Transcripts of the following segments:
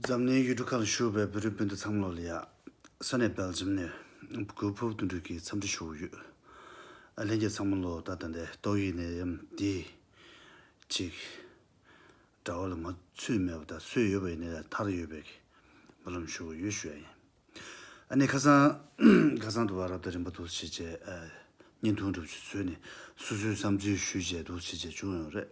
འཛམ་གླིང་ཡུལ་གྲུ་ཁག་ལ་བཞུགས་པའི་བོད་རིགས་སྤུན་ཟླ་ཚང་མ་ལོ་ལེགས། ས་གནས་སྦེལ་ཇམ་ནས་གུས་ཕུབ་བསྟོད་འགྲོས་ཀྱིས་འཚམས་འདྲི་ཞུ་ཡོད། ལྷན་རྒྱས་ཚང་མ་ལོ་ཟླ་ད་ལྟའི་ཏོག་དབྱིབས་ནད་ཡམས་འདིས་ཅིག། དགྲ་བོ་ལ་མ་ཚུད་མེད་པ་དང་སོས་ཡོད་པ་ཡིན་ནའི་ཐར་ཡོད་པའི་བར་ལམ་ཞུ་གི་ཡོད་ཞུ་ཡ་ཡིན། ཨ་ནི་ཁ་སང་ཁ་སང་དུ་བ་རབ་དང་རིམ་པ་འདུ་བྱེད་བཅས་བརྙན་ཐུང་སྒྲུབ་ཆུ་ཚོད་ནས་སུ་སུའི་བསམ་ཚུལ་ཞུས་བཅས་འདུ་བྱེད་བཅས་བྱུང་ཡོད་རེད།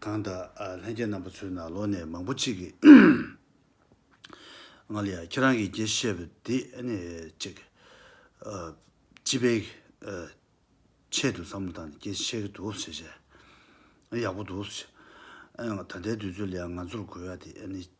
གང་དག་ལྷན་སྐྱེས་རྣམ་པ་ཚོའི་ནང་ལོ་ནས་མང་པོ་གཅིག་གིས། ང་ལ་ཡང་ཁྱེད་རང་གིས་རྒྱས་བཤད་པ་འདི་ནི་ཅིག། སྤྱི་པའི་ཆེད་དུ་བསམ་བློ་བཏང་ནས་སྐད་ཆ་བཤད་གི་འདུག་ཟེར་བྱས། ཡག་པོ་འདུག་ཟེར་བྱས། ད་ལྟའི་དུས་ཚོད་ལ་ཡང་ང་ཚོར་དགོས་ཡ་དེ་ནི།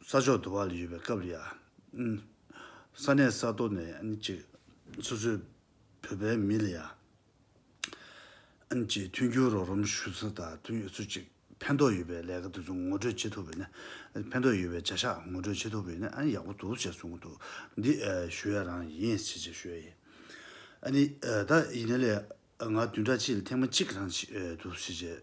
ས་ཕྱོགས་དུ་བ་ལ་ཡོད་པའི་སྐབས་ལ་ཡང། ས་གནས་ས་ཐོ་ནས་ཀྱི་སོ་སོའི་བོད་པའི་མི་ལ་ཡང། ཀྱི་མཐུན་འགྱུར་རོགས་རམ་ཞུ་ཚུལ་དང་མཐུན་ཡོད་ཚུལ་གཅིག་ཕན་ཐོགས་ཡོད་པའི་ལས་ཀ་དེ་ཚོ་ངོ་སྤྲོད་བྱེད་ཐུབ་པས་ནི། ཕན་ཐོགས་ཡོད་པའི་བྱ་གཞག་ངོ་སྤྲོད་བྱེད་ཐུབ་པས་ནི་ཨ་ནི་ཡག་པོ་འདུག་ཅེས་གསུངས་འདུག་འདི་ཞུ་ཡ་རང་ཡིན་ཞེས་ཅེས་ཞུ་ཡ་ཡིན། ཨ་ནི་ད་ཡིན་ན་ལས་ང་བདུན་ཕྲག་གཅིག་ལ་ཐེངས་མ་གཅིག་རང་བྱེད་འདུག་ཞེས་ཅེས།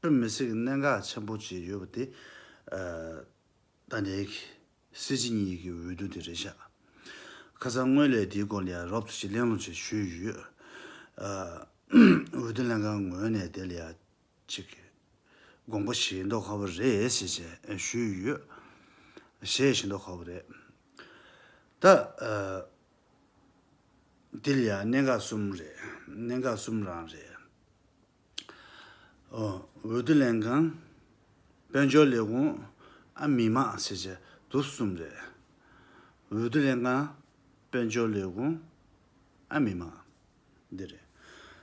དཔེ་མི་སྲིད་གནད་འགག་ཆེན་པོ་གཅིག་ཡོད་པ་དེ། ད་ནས་ཀྱི་སྲིད་སྤྱི་གཉིས་ཀྱི་འོས་བསྡུ་དེ་རེད་ཤག། ཁ་སང་སྔོན་ལས་དེའི་སྐོར་ལ་ཡང་རོབ་ཙོ་གཅིག་གླེང་སློང་བྱས་ཞུས་ཡོད། འོས་བསྡུ་ལྷན་ཁང་ངོས་ནས་དེ་ལ་ཡང་གཅིག་དགོངས་པ་བཞེས་མདོག་ཁ་བོ་རེད་ཞེས་བྱས་ཞུས་ཡོད། བཞེས་བཞེས་མདོག་ཁ་བོ་རེད། ད། དེ་ལ་ཡང་གནད་འགག་གསུམ་རེད། གནད་འགག་གསུམ་རང་རེད། འོས་བསྡུ་ལེན་མཁན། དཔལ་འབྱོར་ལས་ཁུངས། ཨ་མི་དམངས་སྲིད་བྱུས་དུ་གསུམ་རེད། འོས་བསྡུ་ལེན་མཁན། དཔལ་འབྱོར་ལས་ཁུངས། ཨ་མི་དམངས། འདི་རེད།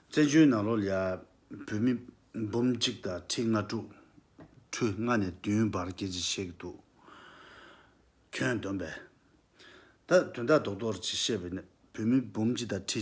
བཙན་བྱོལ་ནང་ལོ་ལེགས་བོད་མི་འབུམ་གཅིག་དང་ཁྲི་ལྔ་དྲུག་ཁྲུ་ལྔ་ནས་བདུན་བར་སྐྱེ་འཆི་བྱེད་ཀྱི་འདུག་ཁྱོད་སྡོམ་པས། ད་དོན་དག་རྡོག་རྡོག་རེད་ཅེས་བཤད་པས་ན་བོད་མི་འབུམ་གཅིག་དང་ཁྲི་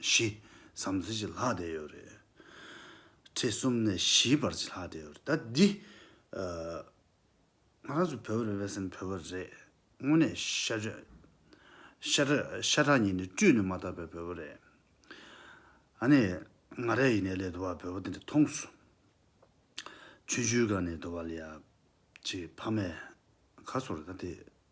ཞེས་བསམ་ཚུལ་གྱི་ལྷག་བསྡད་ཡོད་རེད། ཁྲི་གསུམ་ནས་བཞིའི་བར་གྱི་ལྷག་བསྡད་ཡོད་རེད། ད་འདི། ང་རང་ཚོ་བོད་པ་རེད་བས་སམ་བོད་པ་རེད། དངོས་གནས་ཤ་རྗོད། ཤ་ཁྲག་ཤ་ཁྲག་ཉིད་ནས་བཀྲུས་ནས་མ་བཏབ་པའི་བོད་པ་རེད། ཨ་ནི། ང་རས་ཡིན་ནའི་ལས་དུ་བ་བོད་པ་དེ་འདྲ་མཐོང་སོང། ཆུ་ཆུའི་སྒང་ནས་དུ་བ་ལས་ཡ། ཅེས་ཕ་མས། ག་སོང་རེད་ད་དེ།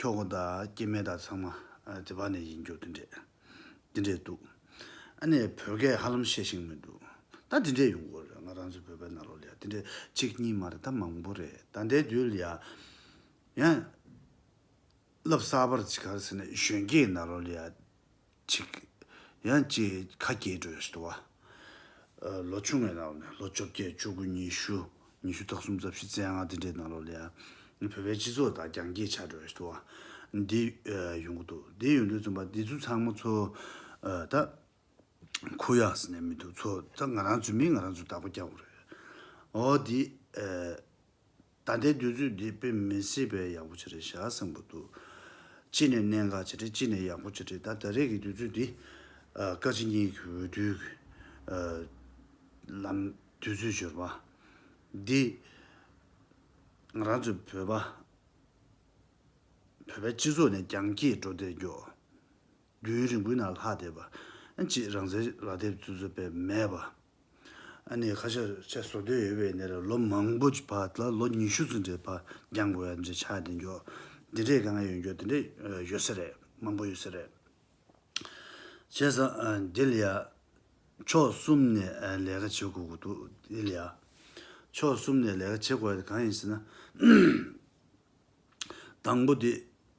ཁྱོ་ག་དང་སྐྱེས་དམན་དག་ཚང་མ་དེ་བར་ནས་ཡིན་རྒྱུ་དེ་འདྲས་དེ་འདྲས་འདུག་ཨ་ནེས་བོད་སྐད་ཧ་ལམ་བཤད་ཤེས་མི་འདུག་ད་དེ་འདྲས་ཡོང་དགོས་རེད་ང་རང་ཚོའི་བོད་པའི་ནང་ལོགས་ལ་ཡང་དེ་འདྲས་གཅིག་གཉིས་མ་རེད་ད་མང་པོ་རེད་ད་འདའི་དུས་ལ་ཡང་ཡང་བསླབ་གསར་པར་ཇི་གར་ཟེར་ནས་གཞོན་སྐྱེས་ནང་ལོགས་ལ་ཡང་ཅིག། ཡང་གཅིག་ཁ་གྱེས་སྒྲོལ་ཞི་དུ་བ། ལོ་ཆུང་བའི་ལག་ནས་ལོ་བཅོ་བརྒྱད་བཅུ་དགུ་ཉི་ཤུ་ཉི་ཤུ་རྟག་གསུམ་རྩ་བཞི་རྩེ་ལྔ་འདི་འདྲའི་ནང་ལོགས་ལ། བོད་པའི་སྤྱི་ཚོགས་དང་རྒྱང་གྱེས་ཆགས་སྒྲོལ་ཞི་དུ་བ། འདི་ཡོང་གི་འདུག་འདི་ཡོང་དུས་རྩོམ་པ་འདི་ཚོ་ཚང་མ་ཚོ། ད། ཁུ་ཡངས་སུ་ནས་མི་འདུག་ཚོ་ད་ང་རང་ཚོའི་མིང་ང་རང་ཚོས་བདག་པོ་རྒྱག་དགོས་རེད། འོ་འདི། ད་ལྟའི་དུས་ཚོད་འདི་དཔེ་མི་སྲིད་པའི་ཡག་པོ་བྱེད་རེས་བྱ་སེམས་པོ་འདུག། ཅི་ནས་གནད་འགག་བྱེད་རེས་ཅི་ནས་ཡག་པོ་བྱེད་རེས་ད་ད་རེས་ཀྱི་དུས་ཚོད་འདི། བཀའ་སྤྱི་གཉིས་ཀྱི་འོས་བསྡུའི་གི། ལམ། དུས་ཚོད་འབྱོར་པ། འདི། ང་རང་ཚོའི་བོད་པ། བོད་པའི་སྤྱི་ཚོགས་ནས་རྒྱང་སྐྱེད་འགྲོ་བསྡད་མགྱོགས། རྒྱུན་ཡུན་རིང་པོའི་ནང་ལྷག་བསྡད་པ། ཅེས་རང་བཙན་རག་དེབ་བཙུགས་ཚུལ་སྤེལ་མེད་པ། ནས་ཁ་ཤས་ཆེད་བཟོ་འདོད་ཡོད་པའི་ནས་ལོ་མང་པོ་ཀྱི་བར་དུ་ལོ་ཉི་ཤུ་ཙམ་གྱི་བར་འགྱངས་དགོས་ཡ་འདྲ་ཆགས་བསྡད་འགྱོ། འདི་འདྲའི་དཀའ་ངལ་ཡོད་འགྱོ་འདི་འདྲ་ཡོད་ས་རེད་མང་པོ་ཡོད་ས་རེད། བྱས་ཙང་འདི་ལ་ཡ། ཕྱོགས་གསུམ་ནས་ལས་ཀ་བྱེད་དགོས་ཀྱི་འདུག་འདི་ལ་ཡ། ཕྱོགས་གསུམ་ནས་ལས་ཀ་བྱེད་དགོས་ཡ་དེ་གང་ཡིན་ཟེར་ན། དང་པོ་དེ།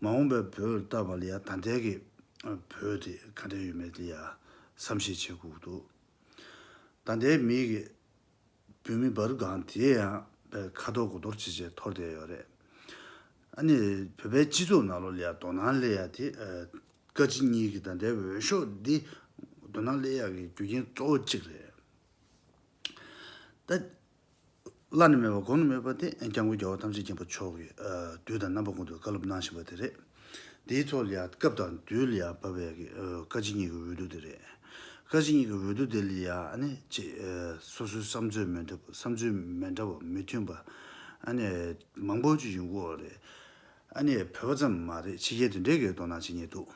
མ་འོངས་པའི་བོད་ལྟ་བ་ལ་ཡང་ད་ལྟའི་གི་བོད་དེ་ག་འདྲ་ཡོད་མེད་དེ་ཡང་བསམ་ཤེས་བྱེད་དགོས་འདུག་ད་ལྟའི་མིའི་གི་བོད་མི་འབར་སྒང་དེ་ཡང་བའི་ཁ་དོག་གོ་དོར་བྱེད་བྱེད་འཐོར་བསྡད་ཡོད་རེད་ཨ་ནི་བོད་པའི་སྤྱི་ཚོགས་ནང་ལོ་ལ་ཡང་དོ་ནང་ལས་ཡ་དེ་བཀའ་སྤྱི་གཉིས་གི་ད་ལྟའི་འོས་ཤོག་འདི་དོ་ནང་ལས་ཡ་གི་རྒྱུ་རྐྱེན་གཙོ་བོ་གཅིག་རེད་ད། བླ་ན་མེད་པ་དགོངས་ནས་སྨོད་པ་དེ་སྐྱབས་མགོན་རྒྱལ་བ་ཐམས་ཅད་མཁྱེན་པ་མཆོག་གིས་དུས་དང་རྣམ་པ་ཀུན་ཏུ་བཀའ་སློབ་གནང་བཞིན་པ་དེ་རེད། དེའི་ཐོག་ལ་ཡང་སྐབས་དང་དུས་ལ་ཡང་བབས་པའི་བཀའ་སྤྱི་གཉིས་ཀྱི་འོས་བསྡུ་དེ་རེད། བཀའ་སྤྱི་གཉིས་ཀྱི་འོས་བསྡུ་དེ་ལ་ཡང་སོ་སོའི་བསམ་ཚུལ་མི་འདྲ་བསམ་ཚུལ་མི་འདྲ་བ་མི་མཐུན་པ་མང་པོ་ཞིག་ཡོང་གི་འོ་རེད། བོད་པ་ཙམ་མ་རེད་ཕྱི་རྒྱལ་དུ་འདྲེ་འགས་དོ་སྣང་བྱེད་ཉེན་འདུག།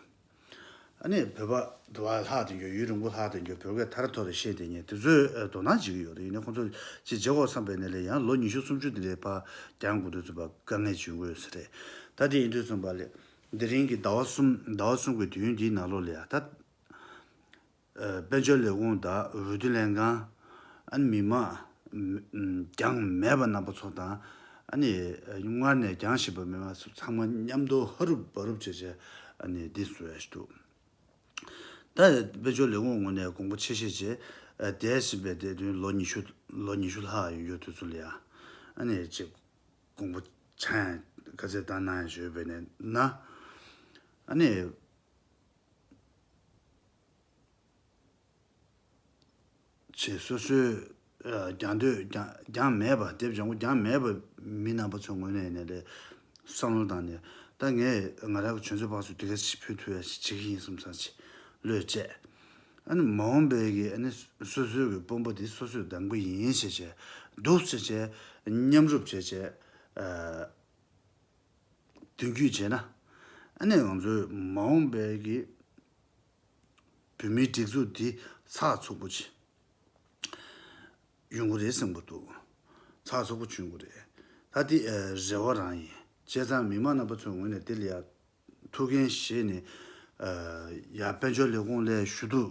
ཨ་ནི་བོད་པ་དུ་བ་ལྷག་ཏུ་འགྱུར་ཡུན་རིང་པོ་ལྷག་ཏུ་འགྱུར་བོད་སྐད་ཐར་ཐོར་རེ་བཤད་དེ་ངས་དེ་ཚོའི་དོ་སྣང་བྱེད་ཀྱི་ཡོད་རེད་ཡིན་ན་ཁོང་ཚོ་ཅིག་བརྗེ་ཁོག་བསམ་པའི་ནས་ལས་ཡང་ལོ་ཉི་ཤུ་སུམ་ཅུ་དེ་ལས་ཕ་རྒྱང་དགུ་འདོད་ཚོད་པ་དཀའ་ངལ་བྱུང་དགོས་ས་རེད་ད་དེ་ཡིན་དུས་གསུམ་པ་ལས་དེ་རིང་གི་ཟླ་བ་གསུམ་ཟླ་བ་གསུམ་གི་དུས་ཡུན་འདིའི་ནང་ལོ་ལས་ད། དཔལ་འབྱོར་ལས་ཁུངས་དང་འོས་བསྡུ་ལྷན་ཁང། མི་དམངས། གྱང་མེད་པ་རྣམ་པ་ཚོ་དང། སྔར་ནས་གྱང་གཞིབ་པ་མེད་པ་སོགས་ཚང་མ་མཉམ་དུ་ཧ་རུབ་བ་རུབ་བྱས་བྱས་འདི་བཟོས་ཡོད་འདུག་ད། དཔལ་འབྱོར་ལས་ཁུངས་ངོ་ནས་དགོངས་པ་ཆེ་བཞེས་བྱས་འདས་ཟིན་པའི་འདས་དོན་ལོ་ཉི་ཤུ་ལོ་ཉི་ཤུ་ལྷག་ཡོང་ཡོད་དུས་ཚོད་ཡ། ཅེས་དགོངས་པ་ཆ་ཡང་བཀའ་བསྩལ་བཏང་གནང་ཡང་བཞེས་ཡོད་པས་ན། ཆེད་སོ་སོའི་རྒྱང་སྡོད་རྒྱང་མེད་པ་དེབ་བྱང་གོ་རྒྱང་མེད་པ་མི་རྣམ་པ་ཚོའི་ངོས་ནས་ནས་ལས་བསམ་བློ་བཏང་ནས་ད་ངས་ང་རང་གི་ཆོས་མཛོད་པ་ཚོ་དེ་ག་ཞིག་ཕུལ་ཐུལ་ཡ་ཞིག་བྱེད་ཀྱི་ཡིན་གསུམ་བསམ་ཆེད་བློས་བཅད། ཨ་ནི་མ་འོངས་པའི་གི་ཨ་ནི་སོ་སོའི་གི་དཔོན་པོ་དེ་སོ་སོས་བདམས་གི་ཡིན་བྱས་བྱས་འདུག་བྱས་བྱས་མཉམ་རུབ་བྱས་བྱས། མདུན་སྐྱོད་བྱས་ན། ཨ་ནེ་ང་ཚོའི་མ་འོངས་པའི་གི་བོད་མིའི་སྒྲིག་འཛུགས་འདི་ཚགས་ཚུགས་པོ་བྱེད་ཡོང་གི་རེད་བསམ་གི་འདུག་ཚགས་ཚུགས་པོ་བྱེད་ཡོང་གི་རེད། ད་དེ་རེ་བ་རང་ཡིན་བྱས་ཙང་མི་མང་རྣམ་པ་ཚོའི་ངོས་ནས་དེ་ལ་ཡག་ཐུགས་འགན་བཞེས་ནས་ཡར་དཔལ་འབྱོར་ལས་ཁུངས་ལས་ཞུ་གཏུག་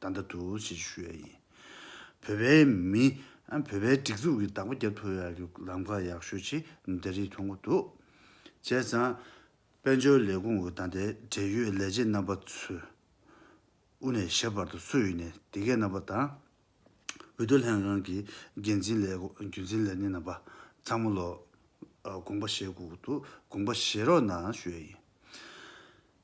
བདའ་འདྲ་འདུག་བྱེད་རྒྱུ་ཞུ་ཡ་ཡིན། བོད་པའི་མི། བོད་པའི་སྒྲིག་འཛུགས་ཀྱི་བདག་པོ་རྒྱབ་ཐོབ་ཡ་རྒྱུ་ལམ་ཁ་ཡག་ཤོས་ཆེ་འདྲ་རིགས་མཐོང་གི་འདུག་བྱས་ཙང། དཔལ་འབྱོར་ལས་ཁུངས་འོས་དང་དེ་འབྲེལ་ཡོད་ལས་བྱེད་རྣམ་པ་ཚོས། དབུ་ནས་ཞབས་བར་དུ་སུ་ཡིན་ནས་དེ་གའི་རྣམ་པ་དང། འོས་བསྡུ་ལྷན་ཁང་གི་འགན་འཛིན་ལས་རྒྱུན་འཛིན་ལས་སྣེ་རྣམ་པ་ཚང་མ་ལོ། དགོངས་པ་བཞེས་དགོས་ཀྱི་འདུག་དགོངས་པ་བཞེས་རོགས་གནང་ཞུ་ཡ་ཡིན།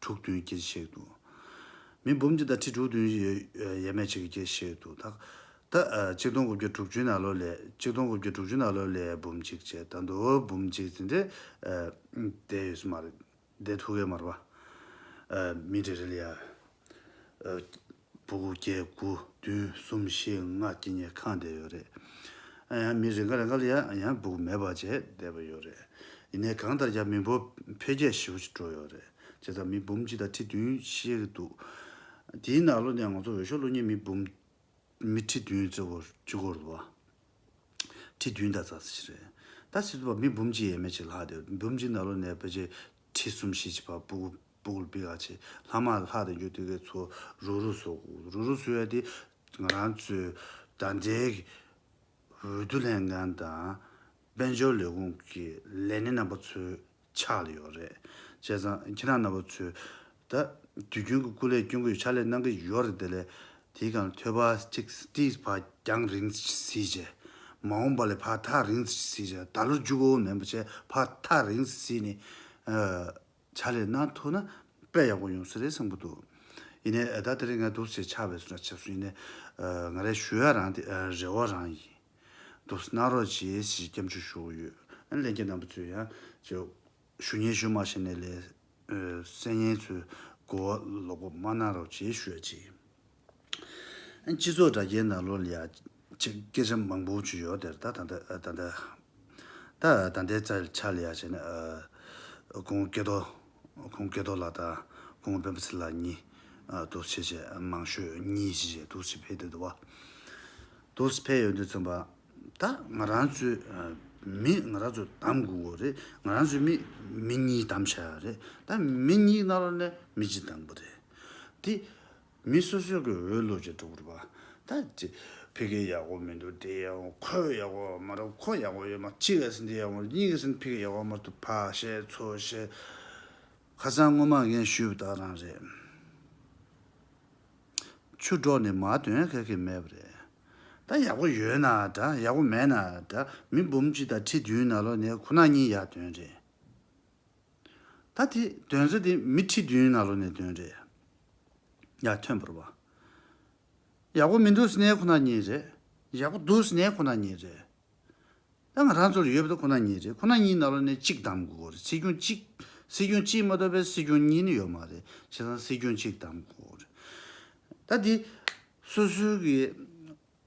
དྲུག་བདུན་སྐྱེ་གཤེགས་དུ། མི་འབུམ་གྱི་ཟླ་ཁྲི་དྲུག་བདུན་ཡས་མས་གཅིག་གིས་སྐྱེ་གཤེགས་དུ། ད་གཅིག་སྟོང་དགུ་བརྒྱ་དྲུག་ཅུའི་ན་ལོ་ལས་གཅིག་སྟོང་དགུ་བརྒྱ་དྲུག་ཅུ་ན་ལོ་ལས་འབུམ་གཅིག་བྱས་ད་མདོ་བོར་འབུམ་གཅིག་ཟིན་ཏེ། འདས་ཡོད་སྲི་མ་རེད། འདས་ཐུག་གས་མ་རེད་པ། མི་རེ་རེ་ལ་ཡར། དགུ་བརྒྱད་དགུ་བདུན་གསུམ་བཞི་ལྔ་སྐྱིད་ཉལ་ཁང་བསྡད་ཡོད་རེད། ཨ་ཡང་མི་རེ་འགའ་རེ་འགའ་ལ་ཡང་ཡང་སྦུག་མེ་སྦར་བྱས་བསྡད་པ་ཡོད་རེད། ཡིན་ནའི་གང་ལྟར་རྒྱ་མི་འབོར་འཕེལ་རྒྱས་ཞེ་བོ་ཞིག་འགྲོ་ཡོད་རེད། བྱས་ཙང་མི་འབུམ་གཅིག་དང་ཁྲི་བདུན་ཤེས་ཀྱི་འདུག་དེའི་ནང་ལོ་ནས་ང་ཚོ་འོས་ཤོག་བླུགས་ཉིན་མི་འབུམ། མི་ཁྲི་བདུན་བརྩི་བར་བཅུ་སྐོར་ལ། ཁྲི་བདུན་དང་རྩ་གསུམ་ཞིག་རེད། ད་ཕྱིས་སུ་བ་མི་འབུམ་གཅིག་ཡས་མས་ཅིག་ལྷག་བསྡད་འབུམ་གཅིག་ནང་ལོ་ནས་བར་ཆད་ཁྲི་གསུམ་བཞི་བཅུ་བར་སྦུག། སྦུག་ལ་སྦིག་ཨ་བྱེད། ལྷག་མ་ལ་ལྷག་དང་རྒྱུ་དེ་གའི་ཚོ། རུ་རུ་སོགས། རུ་རུ་སོགས་ཡ་དེ། ང་རང་ཚོའི། དང་འབྲེལ་གྱི། འོས་བསྡུ་ལྷན་ཁང་དང། དཔལ་འབྱོར་ལས་ཁུངས་ཀྱི། ལས་སྣེ་རྣམ་པ་ཚོའི། ཕྱག་ལས་ཡོད་རེད། བྱས་ཙང། ཁྱེད་རང་རྣམ་པ་ཚོས། ད། དུས་རྒྱུན་གྱི་སྐུ་ལས་སྐྱོན་གྱི་ཕྱག་ལས་གནང་གི་ཡོད་རེད་དེ་ལས། དེའི་སྒང་ཐོད་པ་གཅིག་སྟེ་བ་རྒྱང་རིང་བསྲིས་བྱས། མ་འོངས་པ་ལས་བར་ཐག་རིང་བསྲིས་བྱས། ད་ལོར་འཇུག་འོས་མིན་པ་བྱས་བར་ཐག་རིང་བསྲིས་ནས། བྱ་ལས་ནང་ཐུག་ན་དཔེ་ཡག་པོ་ཡོང་ས་རེད་བསམ་གི་འདུག་ཡིན་ནའི་ཨ་ད་དེ་རིང་ང་འདུག་ཟེར་ཆགས་པས་སུ་འདྲ་བྱེད་སུ་ཡིན་ནའི་ང་རའི་ཞུ་ཡག་རང་དེ་རེ་བ་རང་ཡིན་འདུག་གནང་རོགས་བྱེད་ཞེས་སྐྱབས་འཇུག་ཞུ་གི་ཡོད། གླེན་རྒྱལ་རྣམ་པ་ཚོས་ཡང་ཅིག་ཞུ་སྙན་ཞུ་མ་ཤེས་ནའི་ལས་གསལ་སྙན་ཚོའི་གོ་བ་ལོག་པོ་མ་གནང་རོགས་བྱེད་ཞུ་ཡག་བྱེད། སྤྱི་ཚོགས་དྲ་རྒྱའི་ནང་ལོ་ལ་ཡག་བྱེད་སྐད་ཆ་མང་པོ་བརྗོད་ཡོད་དེར་ད་ད་ད་ད། ད་ད་ལྟའི་ཚར་ཆ་ལ་ཡག་བྱེད་ན། ཁོང་སྐལ་རྡོ་ཁོང་སྐལ་རྡོ་ལགས་དང་ཁོང་སྤེན་པ་ཚེ་ལགས་གཉིས་དུག་བྱེད་ཆེ་མང་ཤོས་གཉིས་ཀྱིས་ཆེད་དུག་བྱེད་ཕེབས་དུས་དུ་བ་དུག་བྱེད་ཕེབས་ཡོད་དུས་མཚོན་པ་ད་ང་རང་ཚོའི་མི་ང་རང་ཚོ་གདམ་དགོས་གོ་རེད་ང་རང་ཚོའི་མི་མི་གཉིས་གདམ་བྱ་ཡག་རེད་ད་མི་གཉིས་ནང་ལོ་ནས་མི་གཅིག་གདམ་དགོས་རེད་དེ། མི་སོ་སོའི་གི་འོས་བླུག་ཅེས་སྒྲོག་རུ་བ་ད་ཅི། ཕི་གེ་ཡག་པོ་མི་འདུག་དེ་ཡག་པོ་ཁོ་ཡག་པོ་མ་རབ་ཁོ་ཡག་པོ་ཡོད་མ་གཅིག་ག་སེ་འདི་ཡག་པོ་མ་གཉིས་ག་སེ་ཕི་གེ་ཡག་པོ་མ་རྟུ་ཕ་ཞེས་ཚོ་ཞེས། ཁ་སང་སྔོན་མ་ངས་ཞུས་པ་དག་རང་རེད། ཆུ་སྒྲོག་ནི་མ་དོན་ག་གི་མེད་པ་རེད། ད་ཡག་པོ་ཡོད་ན་འདྲ་ཡག་པོ་མེད་ན་འདྲ་མི་འབུམ་གཅིག་དང་ཁྲི་བདུན་ན་ལོ་ནས་ཁོ་ན་གཉིས་ཡག་དོན་རེད། ད་དེ་དོན་ཟེར་དེ་མི་ཁྲི་བདུན་ནང་ལོ་ནས་དོན་རེད། ཡ་ཐོན་པོར་བ། ཡག་པོ་མི་འདུག་སྣེ་ཁོ་ན་ཉིད་རེད། ཡག་པོ་འདུག་སྣེ་ཁོ་ན་ཉིད་རེད། ད་ང་རང་ཚོར་ཡོད་པ་དེ་ཁོ་ན་ཉིད་རེད་ཁོ་ན་གཉིས་ནང་ལོ་ནས་གཅིག་གདམ་དགོས་རེད་སྲིད་སྐྱོང་གཅིག་སྲིད་སྐྱོང་གཅིག་མ་གཏོགས་པའི་སྲིད་སྐྱོང་གཉིས་ནི་ཡོད་མ་རེད་བྱས་ཙང་སྲིད་སྐྱོང་གཅིག་གདམ་དགོས་རེད། ད་དེ་སོ་སོའི་གི།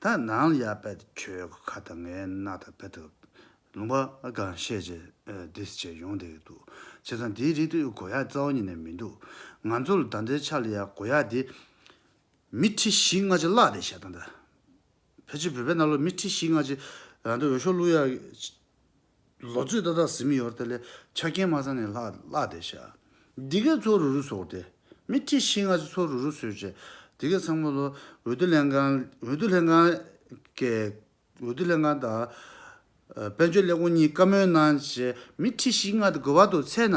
ད་ནང་ལ་ཡར་བད་ཁྱོད་ཀྱི་ཁ་དང་ངའི་སྣ་དང་བད་ཐུབ། ལུང་པ་གང་ཤེས་ཀྱི this བྱས་ཡོང་དེ་ཡོད་འདུག་བྱས་ཙང་དེའི་རིགས་དེ་གོ་ཡག་རྩ་བ་ཉིད་ནས་མི་འདུག་ང་ཚོ་ལ་ད་ལྟའི་ཆ་ལ་ཡ་གོ་ཡག་དེ། མི་ཁྲི་བཞི་ལྔ་ཅི་བརླག་བསྡད་བྱས་ད་ལྟ། ཕལ་ཆེར་བོད་པའི་གནའ་ལོ་མི་ཁྲི་བཞི་ལྔ་ཅི་རང་འདོད་འོས་ཤོག་བླུག་ཡག། ལོ་ཚོད་ཏག་ཏག་ཟིམ་ཡོར་དེ་ལས་ཆ་རྐྱེན་མ་ཚང་ནས་ལྷག་བསྡད་བྱ། འདི་གས་ཚོ་རུ་རུ་ཟོག་སྟེ། མི་ཁྲི་ཤེས་ལྔ་ཅིག་ཚོ་རུ་རུ་ཟོས་བྱས། དེ་གས་ཚང་མ་ལོ་འོད་དུ་ལེན་ཁང་འོད་དུ་ལེན་ཁང་གས་འོད་དུ་ལེན་ཁང་དང། དཔལ་འབྱོར་ཀླད་ཀོར་གཉིས་བཀའ་མོལ་གནང་བྱས་མི་ཁྲི་ཤིས་ལྔ་དེ་དགོས་པ་དུ་ཚད་ན་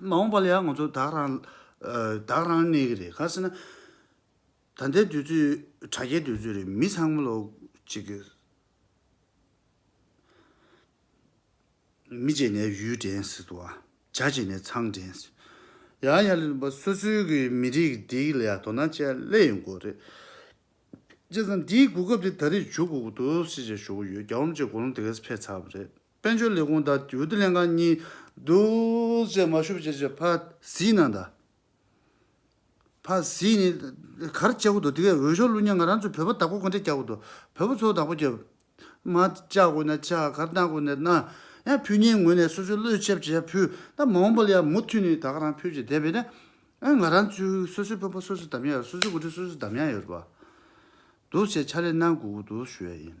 མ་འོངས་པ་ལ་ཡང་ང་ཚོ་བདག་རང། བདག་རང་གནས་ཀྱི་རེད་ག་སེ་ན། ད་ལྟའི་དུས་ཚོད་དྲ་རྒྱའི་དུས་ཚོད་རེད་མི་ཚང་མ་ལ་གཅིག་གི། མི་བྱས་ནས་ཡུལ་འདྲེན་སྲིད་དོ། བྱ་བྱས་ནས་ཚང་འདྲེན་སྲིད། ཡང་ཡང་ལེན་པ་སོ་སོའི་གི་མི་རིགས་འདིའི་ལ་ཡང་དོ་སྣང་བྱས་སླད་ཡོང་དགོས་རེད། བྱས་ཙང་འདིའི་གོ་སྐབས་དེ་ད་རེས་འཇུག་དགོས་ཀྱི་འདུག་སེ་བྱས་ཞུ་གི་ཡོད་རྒྱ་འོམ་བཅས་གོ་ལོང་དེ་གས་སེ་ཕེབས་ཚར་བ་རེད། དཔལ་འབྱོར་ལས་ཁུངས་དང་དེའུ་ཏི་ལྷན་ཁང་གཉིས། རྡོས་བཅས་མ་ཤུབས་བཅས་བཅས་ཕ་གཟིགས་གནང་དང། ཕ་གཟིགས་ནི། གར་བཅའ་གུ་དོ་དེ་གའི་འོས་ཤོག་བླུ་མྱང་ང་རང་ཚོའི་བོད་པ་དག་པོ་གོ་འདྲེ་བཅའ་གུ་དོ། བོད་པོ་ཚོ་དག་པོ་བཅའ། མ་བཅའ་དགོས་ན་བཅའ་གར་གནང་དགོས་ན་གནང། ཡང་ཕུ་གཉིས་ངོས་ནས་སོ་སོའི་བློས་ཆབ་བྱས་ཡ་ཕུ། ད་མ་འོངས་པ་ལ་ཡང་མུ་མཐུད་ནས་དག་རང་ཕུད་ཅིག་བསྡད་པས་ན། ཨ་ང་རང་ཚོའི་སོ་སོའི་བོད་པོ་སོ་སོས་དམ་ཡ་ཡོད་སོ་སོའི་གོ་འདྲེ་སོ་སོས་དམ་ཡ་ཡོད་པ། འདུག་བྱས་ཕྱག་ལས་གནང་དགོས་གུ་དོ་ཞུ་ཡ་ཡིན།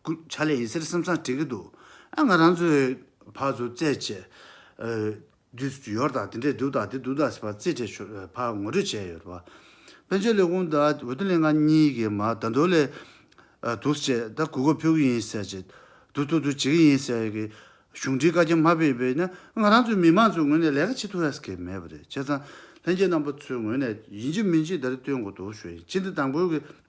སྐུ་བྱ་ལས་ཡིན་ཟེར་སེམས་སང་དྲི་གི་འདུག་ཨ་ང་རང་ཚོའི་བག་ཚོ་རྩེད་ཆས་དུས་སུ་ཡོར་དང་དེ་འདྲས་འདུག་དང་དེ་འདུག་དང་ཟེར་བ་རྩེད་ཆས་ཆོས་བག་ངོ་སྤྲོད་བྱས་ཡོད་པ། དཔོན་ཆེན་ལས་ཁུངས་དང་འོས་བསྡུ་ལས་ཁང་གཉིས་ཀྱིས་མ་ད་འདུག་ལས་འདུག་ཟེར་ཆེད་ད་གུས་བཀོད་ཕུལ་གི་ཡིན་ཟེར་ཆེད་འདུག་འདུག་འདུག་བྱེད་ཀྱི་ཡིན་ཟེར་གི་གཞུང་འབྲེལ་བཀའ་རྒྱ་མ་ཕེབས་པས་ན་ང་རང་ཚོའི་མི་མང་ཚོའི་ངོས་ནས་ལས་ཀ་བྱེད་ཐུབ་ཡ་ས་ཁེལ་མེད་པ་རེད་བྱས་ཙང་ལྷན་རྒྱས་རྣམ་པ་ཚོའི་ངོས་ནས་ཡིན་གྱི་མིན་གྱི་ད་རེ་བསྟོན་དགོས་འདུག་ཞུ་ཡིན་གཅིག་འདི་དང་པོའི་གི།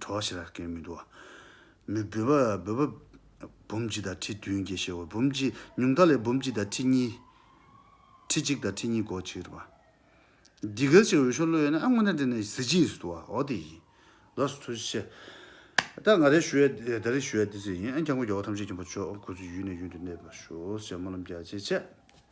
གྲོགས་ཞེས་ར་སྐན་མི་འདུག། མི་འབོད་པ་འབོད་པ། འབུམ་གཅིག་དང་ཁྲི་བདུན་དགེ་བཤེས་འོ་འབུམ་གཅིག་ཉུང་མཐའ་ལས་འབུམ་གཅིག་དང་ཁྲི་གཉིས། ཁྲི་གཅིག་དང་ཁྲི་གཉིས་གོ་གཅིག་རེད་པ། འདི་གལ་ཆེ་འོས་ཤོག་བློ་ཡོད་ན་ཨ་སྔོན་ན་འདྲེ་ནས་གཟི་བརྗིད་ཡིན་སྲིད་དོ་ཨོ་དེ་ཡིན། ལོགས་སུ་ཚོལ་ཤེས། ད་ང་རེ་ཞུ་ཡ་ད་རེ་ཞུ་ཡ་འདི་ཟེར་ཡིན་ཨ་འཁྱག་མགོ་རྒྱ་བོ་ཐམས་ཅད་ཁྱིམ་པ་མཆོག་ཁོ་ཚོ་ཡུལ་ནས་ཡུལ་དུ་གནས་པར་ཞུ་ཞེས་སྨོན་ལམ་རྒྱ་ཆེ་བྱས།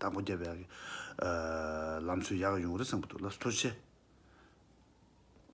དང་པོ་རྒྱབ་བརྒྱག་གི་ལམ་སྲོལ་ཡག་ཡོང་རེ་གསུངས་པ་འདུག་ལབ་སྟོར་ཆེ།